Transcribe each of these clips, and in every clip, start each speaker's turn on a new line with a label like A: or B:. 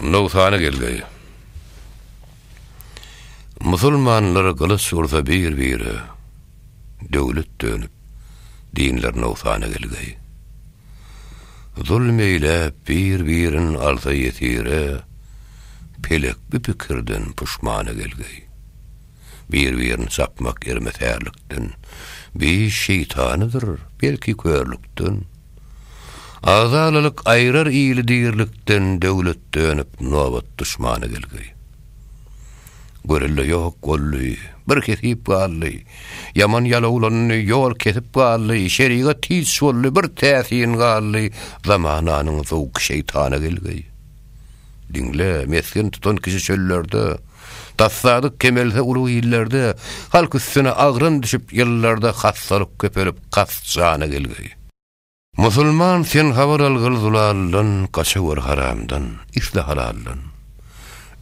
A: Noksany gelgeý. Musulmanlar gylyç ursa bir-bire, Döwlet dönüp, dinler noksana gelgeý. Zulm eýläp, bir-birin alsa ýesire, Pelek bu pikirden puşmana gelgeý. Bir-birini çapmak ermetärlikden, Biş şeýtanydyr, belki körlükden. Agzalalyk aýrar ili dirilikden döwlet dönüp nobat duşmana gelgi. Görelde ýok boldy, bir kesip galdy, ýaman ýalowlandy, ýol kesip galdy, şerigat hiç boldy, bir täsin galdy, zamananyň zowky şeýtana gelgi. Diňle, mesgen tutan kişi çöllerde, Tassadyk kemelse uly illerde, Halk üstüne agran düşüp ýyllarda Hassalyk köpelip kas jana gelgeý. Musulman sen habar algyl zulaldan, Gaçawar haramdan, isle halaldan.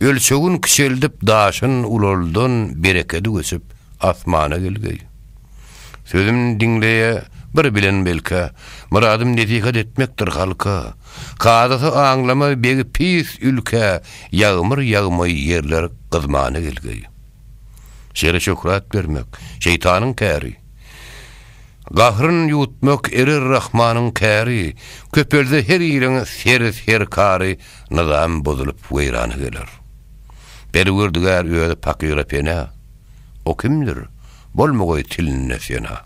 A: Ölçegin kiçeldip daşyn ulaldan, Berekedi göçüp asmana gelgeý. Sözüm diňleýä bir bilen belkä, Myradym nesihat etmekdir halka. Kazasy aňlama begi pis ülkä, Ýagmyr ýagmaý ýerler gyzmana gelgeý. Şere şöhrat bermek, şeýtanyň täri, Gahryn ýuwutmak erer Rahmanyň käri, Köpelse her iliň seri-serkary, Nyzam bozulyp weýrana geler. Perwerdigär özi pakyra pena. O kimdir? Bolmagay tilinde sena.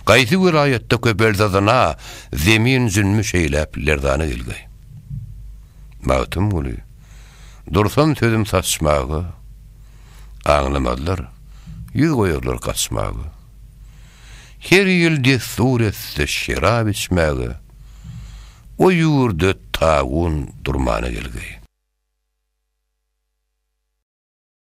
A: Gaýsy welaýatda köpel zazana Zemin zülmi şeýläp lerzana gelgay. Magtymguly, Dursam sözüm saçmaga, Aňlamazlar, ýüz goýarlar gaçmaga. Her ýyl dessur etse şerap içmäge, O ýurda tagun durmana gelgay.